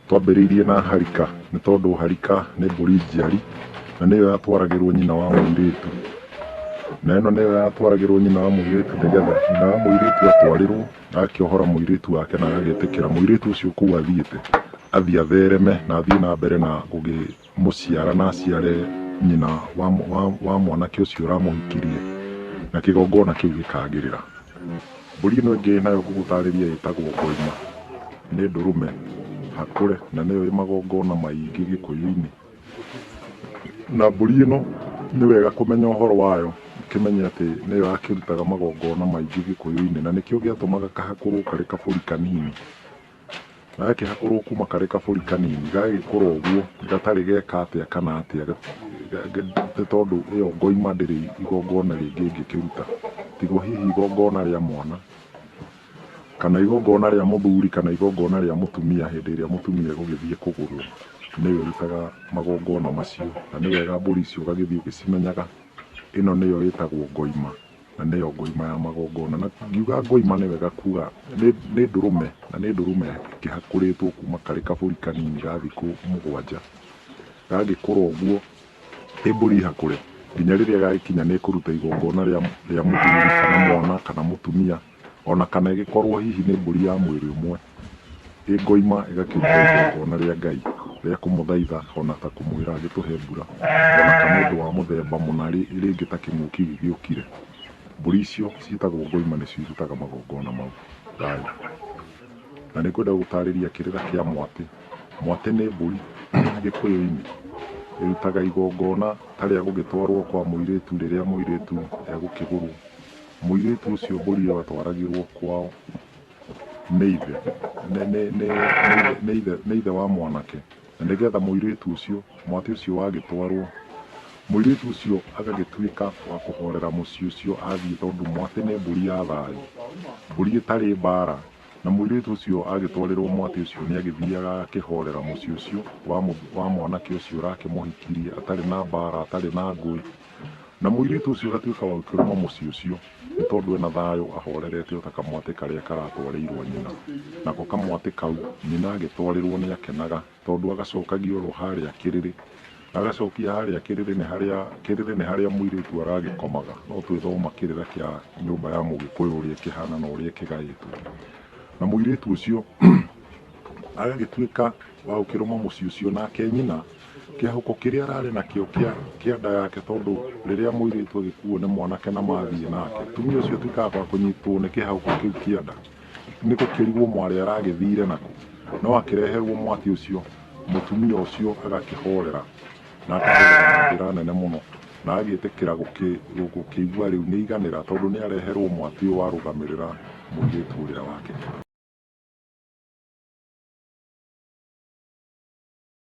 Twambĩrĩirie na harika nĩ tondũ harika nĩ mbũri njiari na nĩyo yatwaragĩrwo nyina wa mũirĩtu. Na ĩno nĩyo yatwaragĩrwo nyina wa mũirĩtu nĩ getha nyina wa mũirĩtu atwarĩrwo agakĩohora mũirĩtu wake na agagĩtĩkĩra mũirĩtu ũcio kũu athiĩte athiĩ athereme na athiĩ na mbere na gũgĩ... mũciara na aciare nyina wa, wa, wa mwanake ũcio ũramũhikirie na kĩgongona kĩu gĩkagĩrĩra mbũri ĩno ĩngĩ nayo ngũgũtarĩria ĩtagwo ngoima nĩ ndũrũme hakũre na nĩyo ĩ magongona maingĩ gĩkũyũ-inĩ na mbũri ĩno nĩ wega kũmenya ũhoro wayo ũkĩmenye atĩ nĩyo yakĩrutaga magongona maingĩ gĩkũyũ-inĩ na nĩkĩo gĩatũmaga kahakũrwo karĩ kabũri kanini gagakĩhakũrwo kuma karĩ kabũri kanini gagagĩkũra ũguo gatarĩ geka atĩa kana atĩa ga- ga- ga- nĩ tondũ ĩyo ngoima ndĩrĩ igongona rĩngĩ ingĩkĩruta tigo hihi igongona rĩa mwana kana igongona rĩa mũthuri kana igongona rĩa mũtumia hĩndĩ ĩrĩa mũtumia egũgĩthiĩ kũgũrwo nĩwe ũrutaga magongona macio na nĩ wega mbũri icio ũgagĩthiĩ ũgĩcimenyaga ĩno nĩyo ĩtagwo ngoima na nĩyo ngoima ya magongona. Na ngiuga ngoima nĩ wega kuga nĩ ndũrũme, na nĩ ndũrũme ĩkĩhakũrĩtwo kuma karĩ kabũri kanini ga thikũ mũgwanja. Gagĩkũra ũguo ĩ mbũri hakũre nginya rĩrĩa gagĩkinya nĩ kũruta igongona rĩa mũthuri kana mwana kana mũtumia, ona kana ĩgĩkorwo hihi nĩ mbũri ya mwĩrĩ ũmwe. ĩngoima ĩgakĩruta igongona rĩa ngai rĩa kũmũthaitha ona ta kũmwĩra agĩtũhe mbura ona kana ũndũ wa mũthemba mũna rĩ- rĩngĩ ta kĩng'ũki gĩgĩũkire mbũri icio ciĩtagwo ngoima nĩcio irutaga magongona mau thayũ na nĩ kwenda gũtarĩria kĩrĩra kĩa mwatĩ mwatĩ nĩ mbũri gĩkũyũ-inĩ ĩrutaga igongona ta rĩa gũgĩtwarwo kwa mũirĩtu rĩrĩa mũirĩtu egũkĩgũrwo mũirĩtu ũcio mbũri ĩyo atwaragĩrwo kwao nĩ ithe nĩ- nĩ- nĩ- nĩ- nĩ ithe- nĩ ithe wa mwanake na nĩgetha mũirĩtu ũcio mwatĩ ũcio wagĩtwarwo mũirĩtu ũcio agagĩtuĩka wa kũhorera mũciĩ ũcio athiĩ tondũ mwatĩ nĩ mbũri ya thayũ mbũri ĩtarĩ mbara na mũirĩtu ũcio agĩtwarĩrwo mwatĩ ũcio nĩ agĩthiaga akĩhorera mũciĩ ũcio wa mũ- wa mwanake ũcio ũrakĩmũhikirie atarĩ na mbara atarĩ na ngũĩ Na mũirĩtu ũcio agatuĩka wa gũkĩrũma mũciĩ ũcio, nĩ tondũ ena thayũ ahorerete o ta kamwatĩ karĩa karatwarĩirwo nyina. Nako kamwatĩ kau nyina agĩtwarĩrwo nĩ akenaga, tondũ agacokagia oro harĩa kĩrĩrĩ. Agacokia harĩa kĩrĩrĩ nĩ harĩa, kĩrĩrĩ nĩ harĩa mũirĩtu aragĩkomaga. No twĩthoma kĩrĩra kĩa nyũmba ya Mũgĩkũyũ ũrĩa ĩkĩhana na ũrĩa ĩkĩgaĩtwo. Na mũirĩtu ũcio agagĩtuĩka wa gũkĩrũma mũciĩ ũcio, nake nyina... kĩahũko kĩrĩa ararĩ nakĩo kĩa kĩa nda yake tondũ rĩrĩa mũirĩtu agĩkuo nĩ mwanake na mathiĩ nake tumia ũcio tuĩkaga gwa kũnyitwo nĩ kĩhahũko kĩu kĩa nda nĩ gũkĩrigwo mwarĩ aragĩthire nako no akĩreherwo mwaki ũcio mũtumia ũcio agakĩhorera na akahorera na njĩra nene mũno na agĩtĩkĩra gũkĩ- gũ- gũkĩigua rĩu nĩ iganĩra tondũ nĩ areherwo mwaki ũyũ warũgamĩrĩra mũirĩtu ũrĩa wake